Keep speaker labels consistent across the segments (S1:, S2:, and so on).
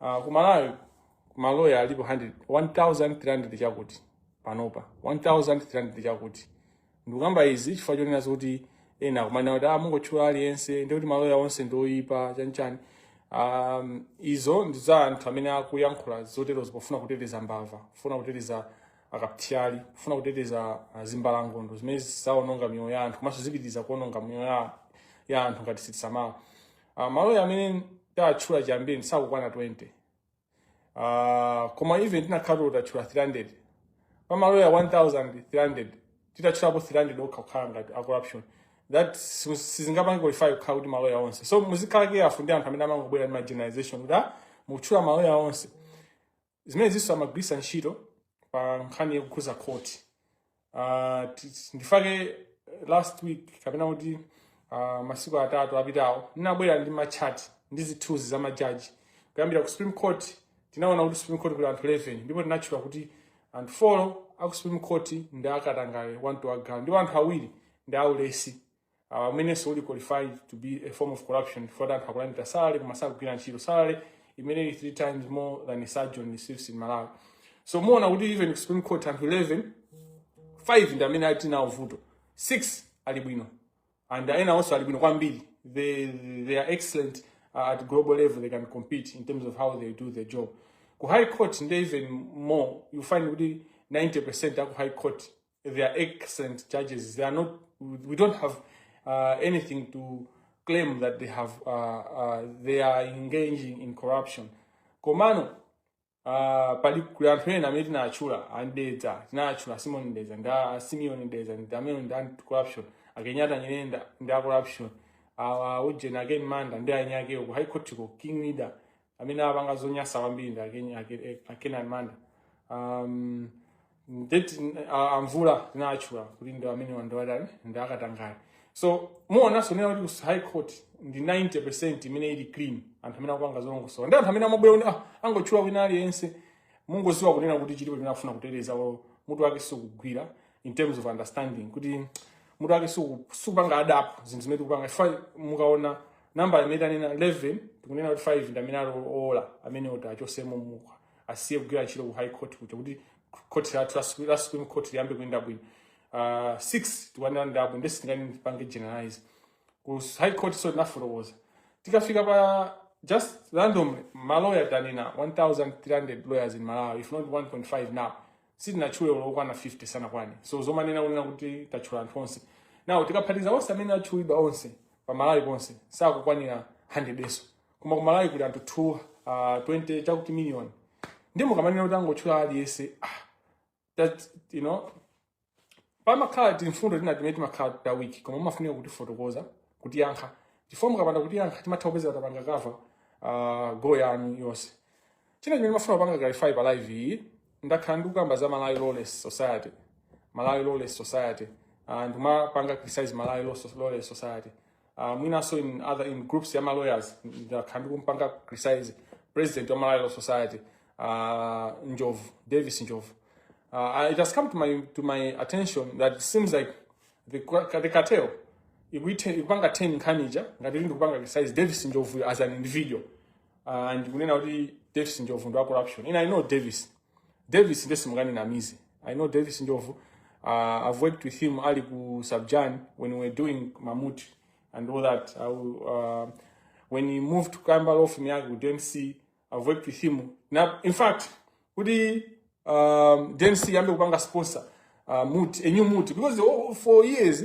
S1: Uh, ku Malawi maloya alipo 1300 chakuti panopa 1300 chakuti ndikukamba izi chifukwa chonena kuti ena akumanena kuti ah, mungotchula aliyense ndikuti maloya onse ndioyipa chanichani um, izo ndi za anthu amene akuyankhula zoterozo pofuna kuteteza mbava kufuna kuteteza akathyali kufuna kuteteza ah, zimbalangondo zimene zaononga miyoyo ya anthu komanso zipitiriza kuononga miyoyo ya- ya anthu ngati sitisamala Uh, maloya amene tatchula chiyambire sakukwana 20 uh, koma even tinakhala tatchula 300 pa maloya 1300 titatchulapo 300 okha kukhala ngati a corrupt that sizingapange qualify kukhala kuti maloya onse so muzikhala careful ndi anthu amene amangobwera ndi ma generalization kuti ah, mukutchula maloya onse zimenezinso amagwiritsa ntchito pa nkhani yokhudza court Ah, ti- ti- I think last week kapena kuti ah, masiku atatu apitawo ndinabwera ndi machati ndi zithunzi za majaji kuyambira ku supreme court tinaona kuti supreme court kuli anthu 11 ndipo tinatchula kuti anthu 4 aku supreme court ndi akatangale one to wa galu ndipo anthu awiri ndi aulesi umenenso uli qualified to be a form of corruption provided akulandira salary koma sakugwira ntchito salary imene three times more than a surgeon receives in Malawi so muona kuti even Supreme Court anthu 11 5 ndi amene ali nawo vuto 6 ali bwino and ena awo ali bwino kwambiri they, they are excellent uh, at global level they can compete in terms of how they do their job ku high court nde even more you find kuti 90% aku high court They are excellent judges. They are not. We don't have uh, anything to claim that they have. Uh, uh, they are engaging in corruption. Komano uh, pali kuli anthu ena amene tinatchula a Mdeza tinatchula Simon Mdeza a Simeon Mdeza ndi amene ndi a corrupt a Kenyatta Nyirenda ndi a corrupt awa ujeni a Ken Manda ndi anzakewo ku high court ko ring leader amene apanga zonyasa kwambiri ndi a Ken- a Ke- a Kenan Manda um, ndiyeno a- a Mvula tinatchula kuti ndi amene wandiwatani ndi akatangale so muonanso kunena kuti ku high court ndi 90 percent imene ili clean anthu amene akupanga zolongosoka nde anthu amene amabwera kuti ah, angotchula wina aliyense mungodziwa kunena kuti chilipo chimene akufuna kuteteza olo mutu wake sikugwira in terms of understanding kuti mutu wake siku- sikupanga adapt zinthu zimene tikupanga Fa- mukaona nambala imene tanena 11 tikunena kuti 5 ndi amene ali owola amene oti achokemo mmm kapena asiye kugwira ntchito ku high court kuja kuti court lathu la Supre- la supreme court liyambe kuyenda bwino uh, 6 tikuanena ndi abwino nde sitingapange generalize ku high court nso tinafotokoza tikafika pa just randomly maloya tanena 1300 lawyers in malawi if not 1.5 now sitinatchule olo okwana 50 sanakwane So zomanena kunena kuti tatchula anthu onse now tikaphatikiza onse amene atchulidwa onse pa malawi ponse sakukwanira 100 yes koma ku malawi kuli anthu 2 uh, 20 chakuti million ndiye mukamanena kuti angotchula aliyense ah, that you know pamakhala timfundo tina timene timakhala ta weak koma umafunika kutifotokoza kutiyankha chifukwa mukapanda kutiyankha timatha kupeza tapanga cover uh, goal yanu yonse China chimene mafuna kupanga clarify pa live iyi, ndakhala ndikukamba za Malawi Lawless Society. Malawi Lawless Society. Uh, ndimapanga criticize Malawi Lawless Society. Uh, mwinaso in other in groups ya ma lawyers ndakhala ndikumpanga criticize president wa Malawi Lawless Society uh, Njovu, Davis Njovu. Uh, it has come to my to my attention that it seems like the, the cartel ikuite ikupanga turn nkhani ija ngati ndikupanga criticize Davis Njovu as an individual uh, ndikunena kuti davis njovu ndi wa corruption ina i know davis davis nde simunganinamize i know davis njovu uh, i've worked with him ali ku subjan when we were doing mamut and all that I, will, uh, when he moved to kamba law firm yake ku dmc i've worked with him na in fact kuti um, dmc yambe kupanga sponsor uh, mut a new mut because oh, for years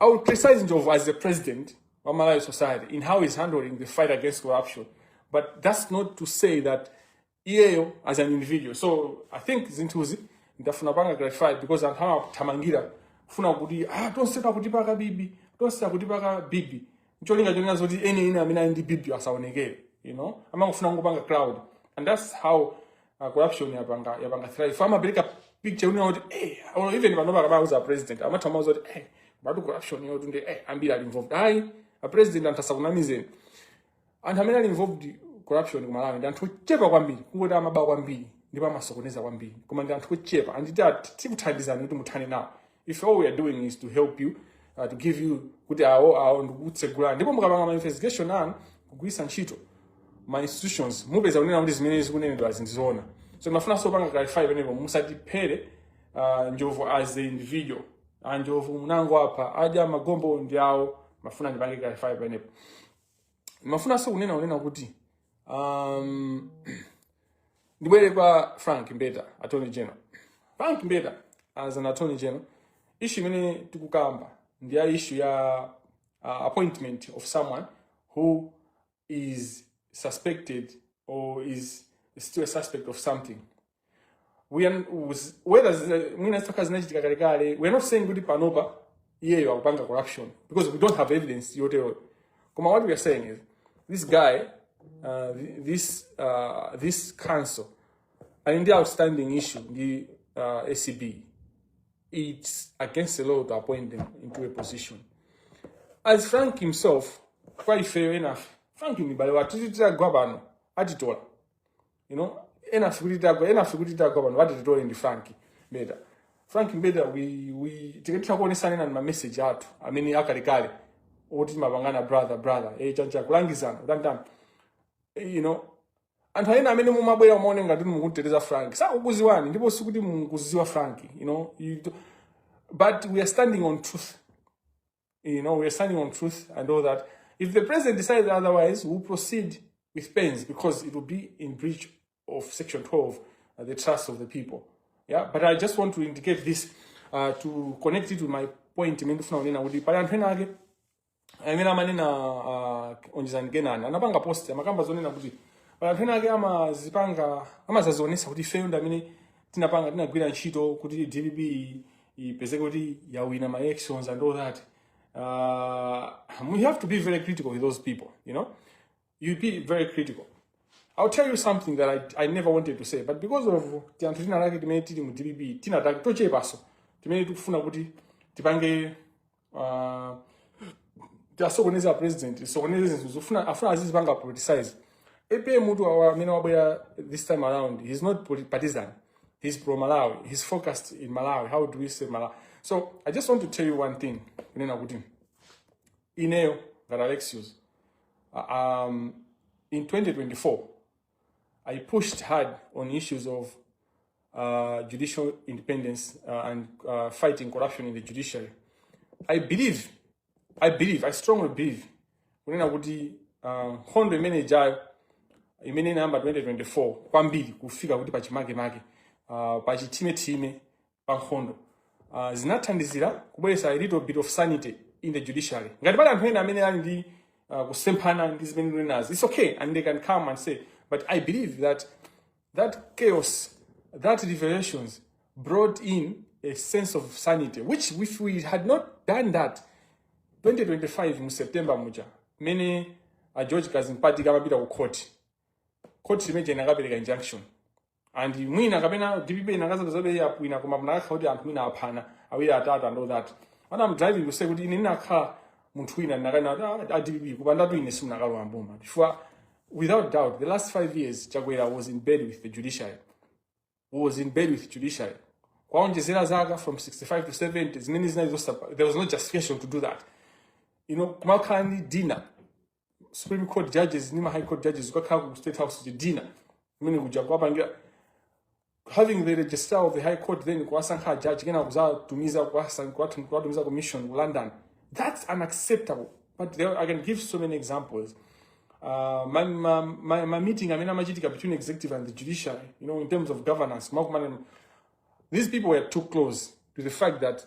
S1: I would criticize Njovu as the president wa Malawi society in how he's handling the fight against corruption. But that's not to say that iyeyo as an individual. So I think zinthuzi ndafuna panga clarify because anthu amathamangira kufuna kuti ah tonse akutipaka bibi tonse akutipaka bibi ncholinga chonena zoti eni eni amene ali ndi bibiyo asaonekere you know amangofuna kungopanga cloud and that's how uh, corruption yapanga yapanga thrive amapereka picture kunena kuti eh or even panopa akamawauza president amatha kuwauza kuti eh but corruption yotu ndiye ambiri ali involved ayi a president anthu asakunamizeni anthu amene ali involved corruption ku Malawi ndi anthu ochepa kwambiri kungoti amaba kwambiri ndipo amasokoneza kwambiri koma ndi anthu ochepa and tikuthandizani kuti muthane nawo if all we are doing is to help you uh, to give you kuti awo awo ndikutsegulani ndipo mukapanga ma investigation anu kugwiritsa ntchito ma institutions mupeza kunena kuti zimene zikunenedwa zi ndi zoona so mafunanso panga clarify penepo musatiphere uh, njovu as a individual anjovu munangopha apa adya magombo ndi awo mafuna ndipange clarify penepo ndimafunanso kunena kunena kuti um, ndibwere kwa frank mbeta attorney general frank mbeta as an attorney general issue imene tikukamba ndi ya issue ya uh, appointment of someone who is suspected or is still a suspect of something We are- uz- whether zina- mwina zitokhala zinachitika kalekale we are not saying kuti panopa iyeyo akupanga corruption because we don't have evidence yoteroyo koma what we are saying is this guy uh, th- this, uh, this counsel ali ndi outstanding issue ndi uh, acb it's against the law to appoint them into a position as frank himself kwa ife enafe frank ni bale wathu titagwa pano atitola you know ena sikuti tagwa ena sikuti tagwa pano vati titole ndi frank mbeta frank mbeta we, we, tikatitha kuonesana ena ma message athu amene akalekale oti timapangana brother brother eh, chancha kulangizana kutantani eh, you know anthu ena amene mumabwera mumaona ngati inu mukumteteza frank sakukuziwani ndipo sikuti mukuziwa frank you know you do, but we are standing on truth You know, we are standing on truth and all that. If the president decides otherwise, we'll proceed with pains because it will be in breach of Section 12, uh, the trust of the people. Yeah, but I just want to indicate this uh, to connect it with my point. I mean ndifuna kunena kuti pali anthu ena ake amene amanena uh, onjezani kenani anapanga post amakamba zonena kuti pali anthu ena ake amazipanga amazazionesa kuti ifeyo ndi amene tinapanga tinagwira ntchito kuti dpp ipezeke kuti yawina ma elections and all that uh, we have to be very critical with those people you know you be very critical I'll tell you something that I, I never wanted to say, but because of tianthu tina lake timene tili mu DPP tina take tochepaso timene tikufuna kuti tipange uh, tiasokoneza president sokoneza zinthu zofuna afuna azizipanga politicize apm tu awa amene wabwera this time around he's not poli- partisan he's pro malawi he's focused in malawi how do we save malawi so i just want to tell you one thing kunena kuti ineyo ngati alexius uh, um, in 2024 I pushed hard on issues of uh, judicial independence uh, and uh, fighting corruption in the judiciary. I believe, I believe, I strongly believe kunena kuti uh, nkhondo imene ijayo imene inayamba 2024 kwambiri kufika kuti pachimake make uh, pachithime thime pa nkhondo uh, zinathandizira kubweretsa a little bit of sanity in the judiciary ngati pali anthu ena amene ali ndi uh, kusemphana ndi zimene ndikunenazi it's okay and they can come and say but i believe that that chaos that revelations brought in a sense of sanity which if we had not done that 2025 mu september muja mmene a george kadzipatike amapita ku court court imene inakapereka injunction and mwina kapena dpp inakazapezabe yawina koma munakakhala kuti anthu mwina aphana awiri atatu and all that what i'm driving to say kuti ine ndinakakhala munthu wina ndinakanena kuti a dpp kupandatu ine simunakalowa mboma chifukwa without doubt the last five years chakwera was in bed with the judiciary was in bed with judiciary kuwaonjezera zaka from 65 to 70 zimene zinali zosapa there was no justification to do that you know kumakhala ndi dinner supreme court judges ndi ma high court judges kukakhala ku state house chidina kumene kuja kuwapangira having the registrar of the high court then kuwasankha judge kena kuzatumiza kuwasan- kuwatum- kuwatumiza commission ku london that's unacceptable but there, i can give so many examples uh, my, my, my, my meeting amene amachitika between executive and the judiciary you know in terms of governance makumana These people were too close to the fact that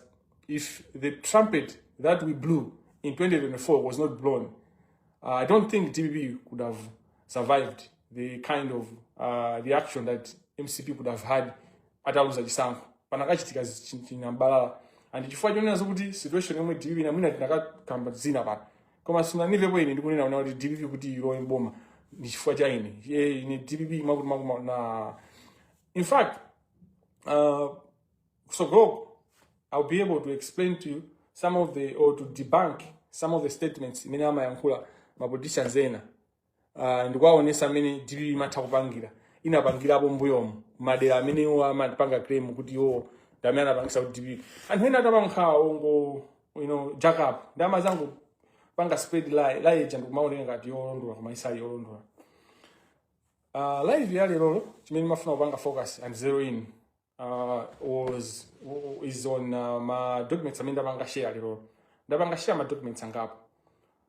S1: if the trumpet that we blew in 2024 was not blown, uh, I don't think DPP could have survived the kind of uh, reaction that MCP could have had ataluza chisankho panakachitika chinambalala and chifukwa chonena zokuti situation yomwe DPP namwina tinakakamba zina pano koma sunandimvepo ine ndikunena kunena kuti DPP kuti ilowe mboma ndi chifukwa cha ine ine DPP makuti makuma na In fact, uh, so go, I'll be able to explain to you some of the, or to debunk some of the statements imene amayankhula ma politicians ena uh, ndikuwaonesa mmene dpp imatha kupangira inapangirapo mbuyomu madera amene iwo amapanga claim kuti iwo ndamene anapangisa kuti dpp anthu ena atapankhawa ongo you know jack up ndi amazangopanga spread lie lie ija ndikumaoneka ngati yolondola koma isali yolondola Uh, live ya lero chimene ndimafuna kupanga focus and zero in uh, was is on uh, ma documents amene ndapanga share lero ndapanga share ma documents angapo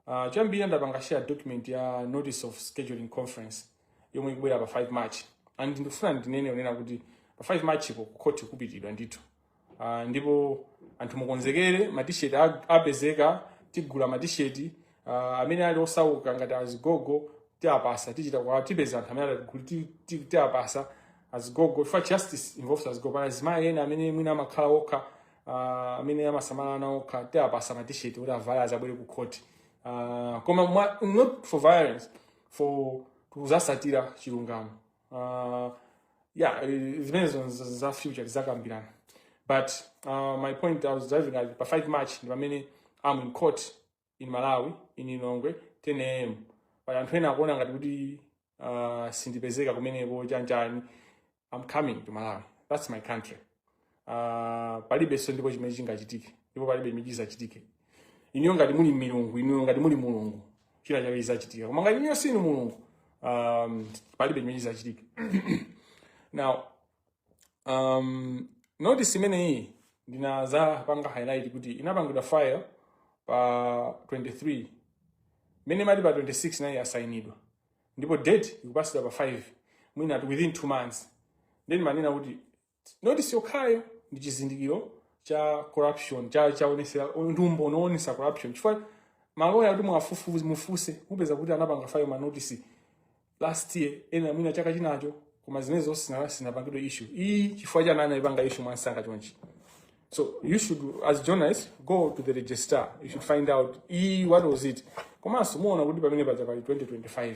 S1: uh, choyambirira ndapanga share document ya notice of scheduling conference yomwe ikubwera pa 5 march and ndikufuna ndinene onena kuti pa 5 march ku court kupitidwa ndithu Uh, ndipo anthu mukonzekere matisheti apezeka tigula matisheti uh, ah, amene ali osauka ngati azigogo tiapasa tichita kwa tipeza anthu amene tiapasa azigogo for justice involves azigogo pali azimayi ena amene mwina amakhala okha uh, amene amasamala ana okha tiapasa matisheti kuti avale azabwere ku khoti uh, koma not for violence for kuzasatira chilungamo uh, yeah zimenezo za future tizakambirana but uh, my point i was driving at pa 5 march ndi pamene am in court in malawi in lilongwe 10 am pali anthu ena akuona ngati kuti uh, sindipezeka kumeneko chanichani i'm coming to malawi that's my country uh, palibenso ndipo chimene chingachitike ndipo palibe chimene chizachitike inuyo ngati muli milungu inuyo ngati muli mulungu china chake chizachitika koma ngati inuyo si inu mulungu um, palibe chimene chizachitike now um, notice imeneyi ndinadzapanga highlight kuti inapangidwa file pa 23 mmene mwaonera pa 26 nayi yasainidwa ndipo date ikupasidwa pa 5 mwina within 2 months then ndimanena kuti notice yokhayo ndi chizindikiro cha corruption cha choonesera ndi umboni woonesa corruption chifukwa maloya kuti mwafufuze mufuse mupeza kuti anapanga file manotice last year ena mwina chaka chinacho koma zimene zonse sina- sizinapangidwe issue iyi chifukwa chani anaipanga issue mwansanga chonchi So you should, as journalists, go to the registrar. You should find out e what was it. Komanso muona kuti pamene paja pali 2025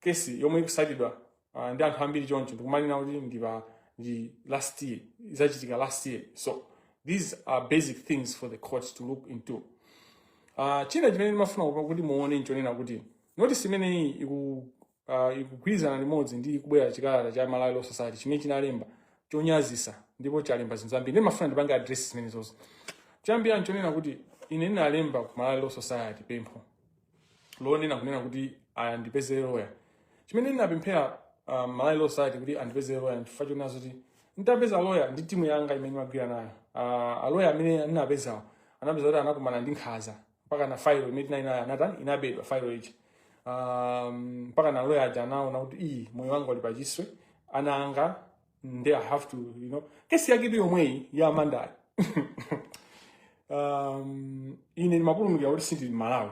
S1: kesi yomwe ikusatidwa uh, ndi anthu ambiri choncho ndikumanena kuti ndi pa ndi last year izachitika last year so these are basic things for the courts to look into uh, china chimene ndimafuna kupa- kuti muone nchonena kuti notice imeneyi iku uh, ikugwirizana limodzi ndi kubwera chikalata cha malawi law society chimene chinalemba chonyazisa ndipo chalemba zinthu zambiri ndimafuna ndipange address zimenezozo choyambirira nchonena kuti ine ndinalemba ku malawi law society pempho lonena kunena kuti andipeze loya chimene ndinapemphera um, malawi law society kuti andipeze loya chifukwa chonena zoti nditapeza loya ndi timu yanga imene ndimagwira nayo uh, aloya amene ndinapezawo anapeza kuti anakumana ndi nkhaza mpaka na failo imene tinali nayo anatani inabedwa failo ichi um, mpaka na loya aja anaona kuti iyi moyo wanga uli pachiwopsezo ana anga nde i have to you know kesi yake ndi yomweyi ya Amandayi um, ine ndimapulumukira kuti sindili Malawi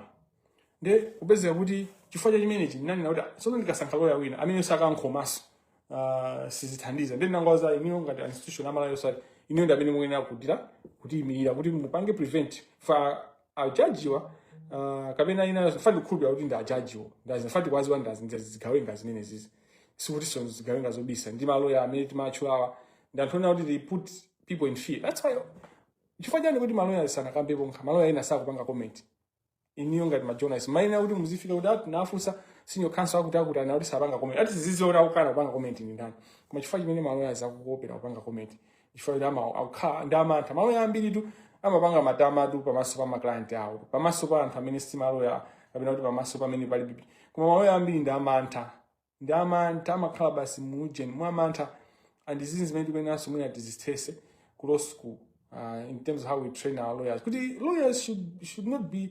S1: nde kupezeka kuti chifukwa cha chimenechi ndinanena kuti tsono ndikasankha loya wina amene sangakhomenso uh, sizithandiza nde ndinangwaza iniyo ngati institution a Malawi Law Society inuyo ndi amene muyenera kudira kutiyimirira kuti mupange prevent pa ajajiwa uh, kapena ine fact ndikukhulupira kuti ndi ajajiwo ndazi fact akuwaziwa ndazi ndazi zigawenga zimenezizi sikutinso ndi zigawenga zobisa ndi maloya amene timatchulawa ndi anthu onena kuti they put people in fear that's why chifukwa chani kuti maloya sanakambepo nkha maloya ena sakupanga comment inuyo ngati majournalist muyenera kuti muzifika kuti ati nafunsa senior counsel akuti akuti akuti sapanga comment ati ziziona kukana kupanga comment ndi ndani koma chifukwa chimene maloya akuopera kupanga comment chifukwa choti ama- akukhala ndi amantha maloya ambiritu amapanga matamatu pamaso pa maklayenti awo pamaso pa anthu amene si maloya kapena kuti pamaso pamene pali bibi koma maloya ambiri ndi amantha ndi amantha amakhala basi muujeni mwa amantha and ndi zimene tikuyeneranso mwina tizithetse ku law school uh, in terms of how we train our lawyers kuti lawyers should, should not be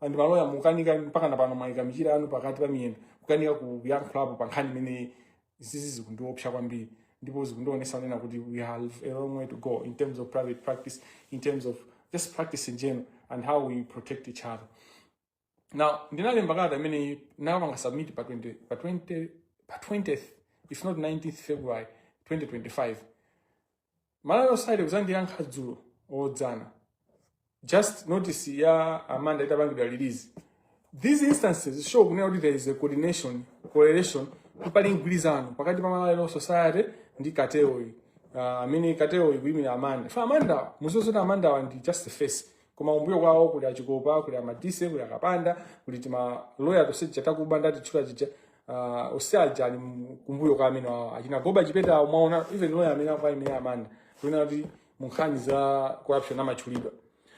S1: and maloya mukukanika mpaka na pano mwaika michira anu pakati pa miyendo kukanika kuyankhulapo pa nkhani imene izizi zikundiopsa kwambiri ndipo zikundionesa kunena kuti we have a long way to go in terms of private practice in terms of just practice in general and how we protect each other now ndinalemba kalata imene ndinapanga submit pa 20 pa 20 pa 20th if not 19th february 2025 Malawi Law Society kuzandiyankha dzulo odzana just notice ya Amanda itapangidwa release these instances show kunena kuti there is a coordination correlation kuti pali mgwirizano pakati pa Malawi Law Society ndi katelo yi uh, amene katelo yi ikuyimira Amanda pa Amanda muziwa zoti Amanda awa ndi just a face koma kumbuyo kwawo kuli a Chikopa kuli a Madise kuli a Kapanda kuli timaloya tonse tija takuba ndatitchula tija uh, onse aja ali mu- kumbuyo kwa amene awo achina Goba Chipeta awo mwaona even loya amene akuwaimira Amanda kuona kuti mu nkhani za corruption amatchulidwa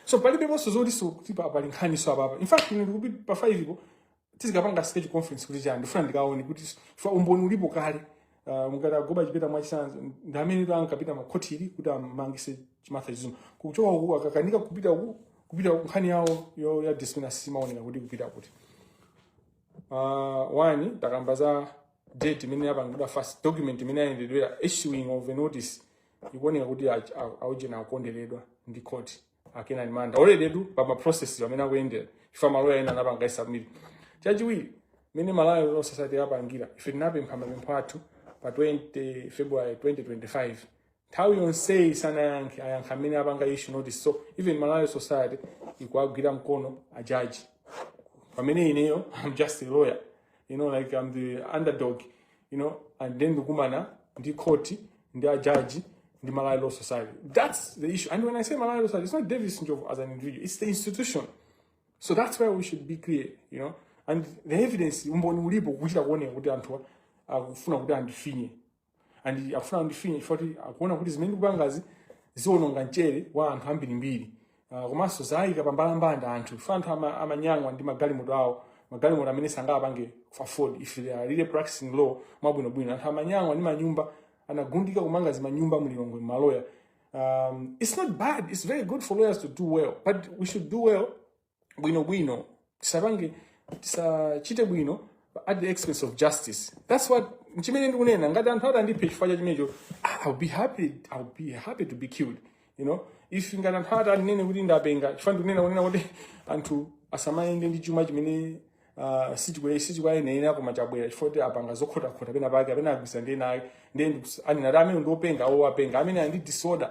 S1: so palibe ponse zoti sikuti pa- pali nkhaniso apapa in fact ine ndikuti pa 5 po tizikapanga status conference kuti chani ndifuna ndikaone kuti fact umboni ulipo kale uh, mungati a Goba Chipeta mwachisanzo ndi amene ankapita m'makhoti kuti amangise Martha Chizuma kuchoka uku akakanika kupita uku kupita uku nkhani yawoyo ya discipline simaoneka kuti kupita kuti uh, one takamba za date imene yapangidwa file document imene yayendedwera issuing of a notice ikuoneka kuti aujeni akukonderedwa ndi court akina Amanda already due pa maprocess amene akuyendera if a maloya ena anapanga submit chachiwiri mene Malawi Law Society yapangira ife tinapempha mapempho athu pa 20 february 2025 nthawi yonseyi sanayankhe ayankha mene apanga issue notice so even Malawi Law Society ikuwagwira mkono ajaji pamene ineyo i'm just a lawyer you know like i'm the underdog you know and then ndikumana ndi court ndi a judge ndi malawi law society that's the issue and when i say malawi law society it's not davis njovu as an individual it's the institution so that's why we should be clear you know and the evidence umboni ulipo kuchita kuoneka kuti anthu akufuna kuti andifinye and akufuna andifinye chifukwa kuti akuona kuti zimene ndikupangazi ziononga mchere wa anthu ambirimbiri Ah, komanso zayika pambalambanda anthu ife anthu ama- amanyang'wa ndi magalimoto awo magalimoto amene sangawapange afford if they are really practicing law mwabwinobwino anthu amanyang'wa ndi manyumba anagundika kumanga zimanyumba mu Lilongwe maloya um, it's not bad it's very good for lawyers to do well but we should do well bwinobwino tisapange tisachite bwino at the expense of justice that's what chimene ndikunena ngati anthu atandiphe chifukwa cha chimenecho ah, i'll be happy i'll be happy to be killed you know if ngati anthu atanene kuti ndapenga chifukwa ndikunena kunena kuti anthu asamayende ndi chuma chimene uh, sichikwayenera koma chabwera chifukwa kuti apanga zokhotakhota pena pake apena agwisa ndi enayo ndiye anena kuti amene ndiopenga owo openga amene ali ndi disorder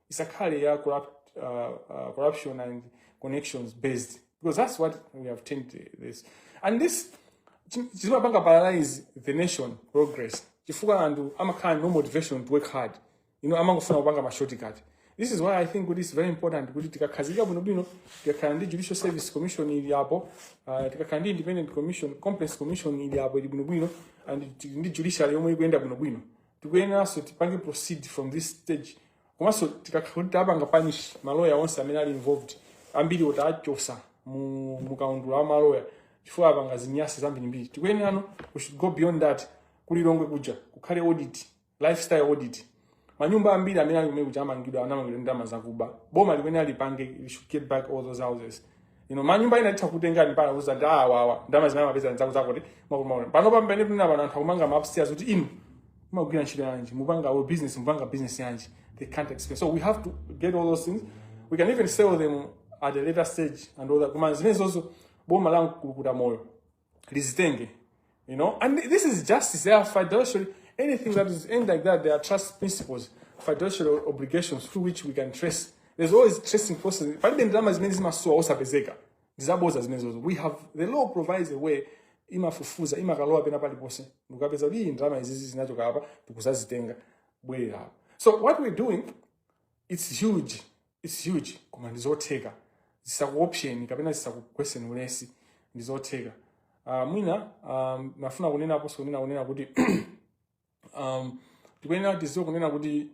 S1: isakhale ya corrupt, uh, uh, corruption and connections based because that's what we have turned this and this chi- chimapanga paralyze the nation progress chifukwa anthu amakhala no motivation to work hard you know amangofuna kupanga ma shortcut this is why i think kuti is very important kuti tikakhazika bwinobwino tikakhala ndi judicial service commission ili apo uh, tikakhala ndi independent commission complaints commission ili apo ili bwinobwino and tili ndi judiciary yomwe ikuyenda bwinobwino tikuyeneranso tipange proceed from this stage komanso tikakhala kuti tapanga punish maloya onse amene ali involved ambiri otiachotsa mu mu kaundula wa maloya chifukwa apanga zinyasi zambirimbiri tikuyenerano we should go beyond that ku Lilongwe kuja kukhale audit lifestyle audit manyumba ambiri amene ali kumene kuja amangidwa anamangidwa ndi ndalama zakuba boma limene alipange we should get back all those houses you know manyumba ena titha kutengani pana uza ndi awawa ndalama zimene amapeza nzakuba zakuti makumaona pano pamene tuona pano anthu akumanga ma upstairs kuti inu mumagwira ntchito yanji mupanga ah business mupanga business yanji they can't explain so we have to get all those things we can even sell them at a later stage and all that koma zimenezozo boma la mkulukuta moyo lizitenge you know and this is justice there are fiduciary anything that is earned like that there are trust principles fiduciary obligations through which we can trace there's always tracing process palibe ndalama zimene zimasowa osapezeka ndizaboza zimenezozo we have the law provides a way imafufuza imakalowa pena paliponse ndikukapeza kuti iyi ndalama izizi zinachoka apa ndikuzazitenga bwerera apa so what we're doing it's huge It's huge koma ndizotheka zisakuopseni kapena zisakugweseni ulesi ndizotheka uh, mwina um, nafuna kunena aposo kunena kunena kuti um, tikuyenera tiziwe kunena kuti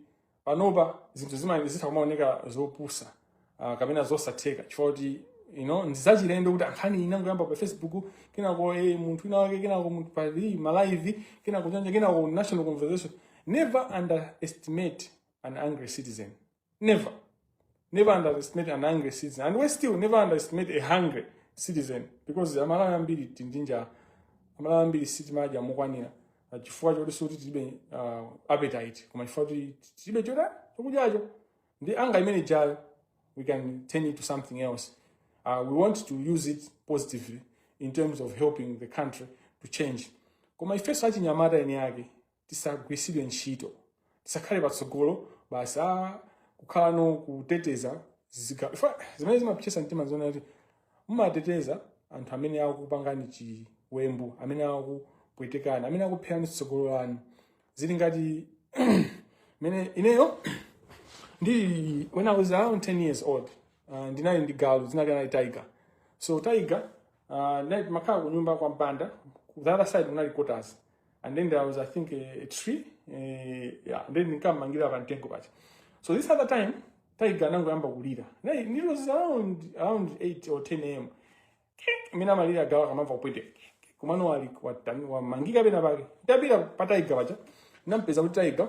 S1: panopa zinthu zima- zitha kumaoneka zopusa uh, kapena zosatheka chifukwa kuti you know, ndizachilendo kuti nkhani inangoyamba pa facebook kenako eh, munthu wina wake kenako munthu pa hii, malive kenako chanicha kenako national conversation never underestimate an angry citizen Never. Never underestimate an angry citizen. And we still never underestimate a hungry citizen because amalawi ambiri tili ndi njala amalawi ambiri sitimadya mokwanira Ah, chifukwa choti sikuti tilibe ah, appetite koma chifukwa kuti tilibe choda chokudyacho ndiye anger imene ijayo we can turn it to something else uh, we want to use it positively in terms of helping the country to change koma ifeso achinyamata eni ake tisagwiritsidwe ntchito tisakhale patsogolo basi kukhalanso kuteteza ziga- fa- zimene zimapwetetsa mtima zoona kuti mumateteza anthu amene akupangani chiwembu amene akupwetekani amene akupherani tsogolo lanu zili ngati mmene ineyo ndili when i was around 10 years old uh, ndinali ndi galu dzina lake anali tiger so tiger Uh, ndimakhala kunyumba kwa mpanda ku the other side kunali quarters and then there was i think a, a tree eh, yeah, and then ndinkammangira pa mtengo paja so this other time tiger anangoyamba kulira Na- it was around around 8 or 10 am mmene amalirira galu akamamva kupweteka mwina wali watani wamangika pena pake ndapita pa tiger paja ndampeza kuti tiger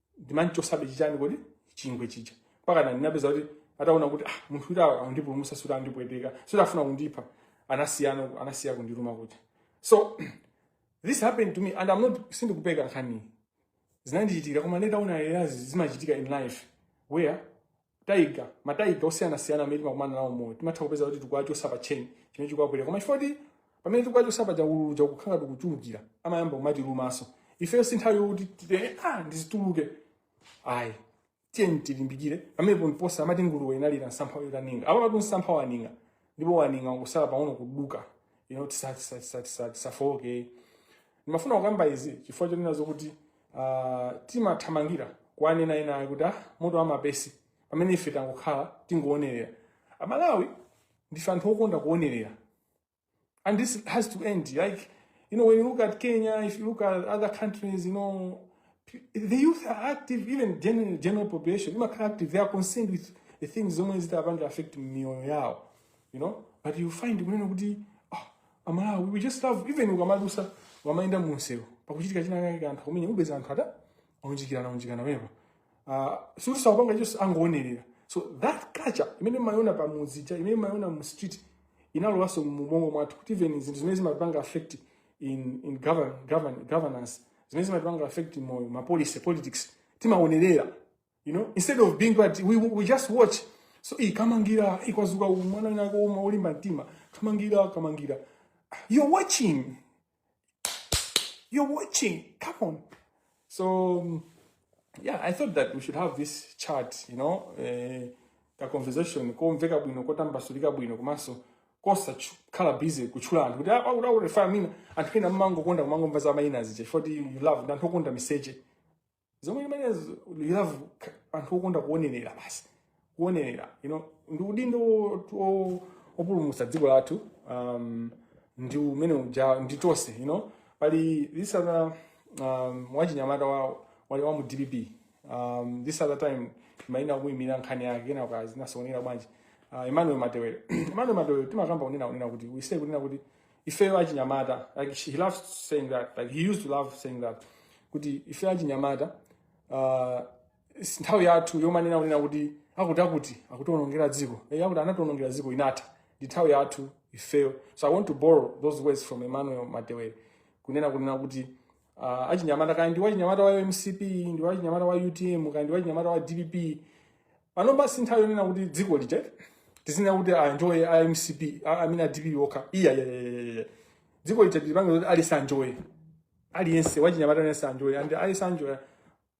S1: ndimamchotsabe chichani kodi chingwe chija mpaka na ndinapeza kuti ataona kuti ah, munthu uyu akundipulumutsa sikuti akundipweteka sikuti akufuna kundipha anasiyana anasiya kundiluma kuti so this happened to me and i'm not sindikupeka nkhani zinandichitikira koma nditaona eyazi zimachitika in life where taiga mataiga osiyanasiyana amene timakumana nawo m'moyo timatha kupeza kuti tikuwachotsa pa tcheni chimene chikuwapweteka koma chifukwa kuti pamene tikuwachotsa paja ululu uja ukukhala ukuchulukira amayamba kumatilumanso ifeyo si nthawi yokuti titi ah ndizituluke ayi tiyeni tilimbikire pamenepo ndi posa amati nguluwe inalira msampha utaning'a apapatu msampha waning'a ndipo waning'a kusala pang'ono kuduka you know tisa- tisa- tisa- tisa- tisafowoke ndimafuna kukamba izi chifukwa chonena zokuti ah, timathamangira kuwanena enawa kuti ah, moto wamapesi pamene ife tangokhala tingowonerera amalawi ndife anthu okonda kuwonerera and this has to end. Like, you know, when you look at Kenya, if you look at other countries, you know, the youth are active even general, general population imakhala active they are concerned with the things zomwe zitapanga affect miyoyo yawo you know but you find kunena kuti oh, amalawi we just love even ukamadusa wamaenda munsewu pakuchitika china kake kanthu kumenya upeza anthu ata aunjikirana unjikana pepa uh, sikuti sakupanga chonse angoonerera so that culture imene mumayiona pa mudzi ija imene mumayiona mu street inalowaso mubongo mwathu kuti even zinthu zimene zimapanga affect in, in govern, govern, governance zimene zimatipanga affect moyo ma policy politics timaonerera you know instead of being but we, we just watch so iyi kamangira ikwazuka uyu mwana winako uma olimba mtima kamangira kamangira you're watching you're watching come on so um, yeah i thought that we should have this chat you know eh, ka conversation komveka bwino kotambasulika bwino komanso kosakhala busy kutchula anthu kuti "Ah, apa akuti akurefa mayina anthu ena mmangokonda kumangomva za mayina aziche for you love ndi anthu okonda miseche zomwe zimenezo you love k- anthu okonda kuonerera basi kuonerera you know, ndi udindo wo- wo- wopulumutsa dziko lathu um, umene uja ndi tonse you know? pali this other um, wachinyamata wa, wali wa mu dpp um, this other time maina kuimira nkhani yake kena kazinasonera bwanji uh, emmanuel matewere emmanuel matewere timakamba kunena kunena kuti we say kunena kuti ifeyo achinyamata like she, he loves saying that like he used to love saying that kuti ifeyo achinyamata uh, si nthawi yathu yomanena kunena kuti akuti akuti akutiwonongera dziko Eh, akuti anatiwonongera dziko inatha ndi nthawi yathu ifeyo so i want to borrow those words from emmanuel matewere kunena kunena kuti uh, achinyamata kaya ndi wachinyamata wa mcp ndi wachinyamata wa utm kaya ndi wachinyamata wa dpp pano basi nthawi yonena kuti dziko lija tisamanena kuti anjoye a mcp a- amene a dpp okha iya iya, iya, iya, iya. dziko lija tilipange kuti aliyense anjoye aliyense wachinyamata aliyense anjoye and aliyense anjoye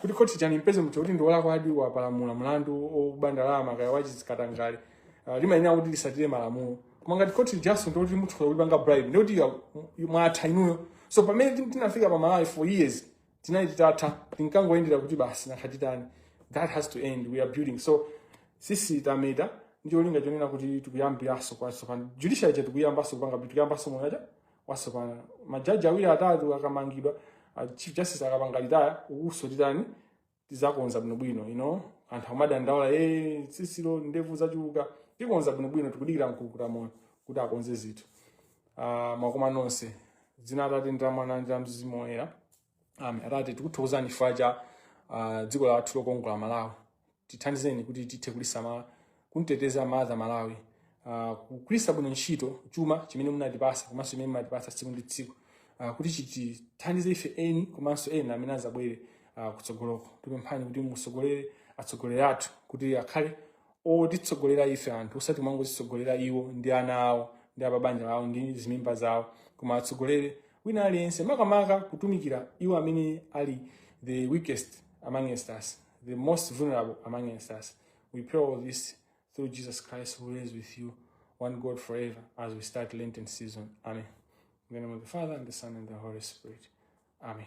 S1: kuti khoti likampeze munthu kuti ndiwolakwadi wapalamula mlandu woba ndalama kaya wachizikatangale uh, limayenera kuti lisatire malamulo koma ngati khoti lijaso ndikuti mutha kulipanga bribe ndikuti mwatha inuyo so pamene tin- tinafika pa malawi for years tinali titatha tinkangoyendera kuti basi nanga titani that has to end we are building so tsitsi tameta ndiyolinga chonena kuti tikuyambiranso kwatsopano judiciary ija tikuyambanso kupanga tikuyambanso moyo uja watsopano majaji awiri atatu akamangidwa ah, chief justice akapanga retire ukuso titani tizakonza bwinobwino you know anthu akumadandaula e tsitsilo ndevu zachuluka tikonza bwinobwino tikudikira mkukuta moyo kuti akonze zinthu Ah, mwakoma nonse m'dzina la atate ndi la mwana ndi la mzimu woyera Amen. Atate tikuthokozani chifukwa cha ah, dziko lathu lokongola Malawi. Tithandizeni kuti tithe kulisamala, kuteteza madzi a Malawi, ah, kugwiritsa bwino ntchito chuma chimene munatipasa komanso chimene mumatipasa tsiku ndi tsiku ah, kuti chitithandize ife eni komanso ena amene azabwere ah, kutsogoloko. Tipemphani kuti musogolere atsogoleri athu kuti akhale otitsogolera ife anthu osati kumangozitsogolera iwo ndi ana awo ndi apabanja lawo ndi zimimba zawo koma atsogolere wina aliyense makamaka kutumikira iwo amene ali the weakest among us the most vulnerable among us we pray all this through jesus christ who reigns with you one god forever as we start lenten season amen in the name of the father and the son and the holy spirit amen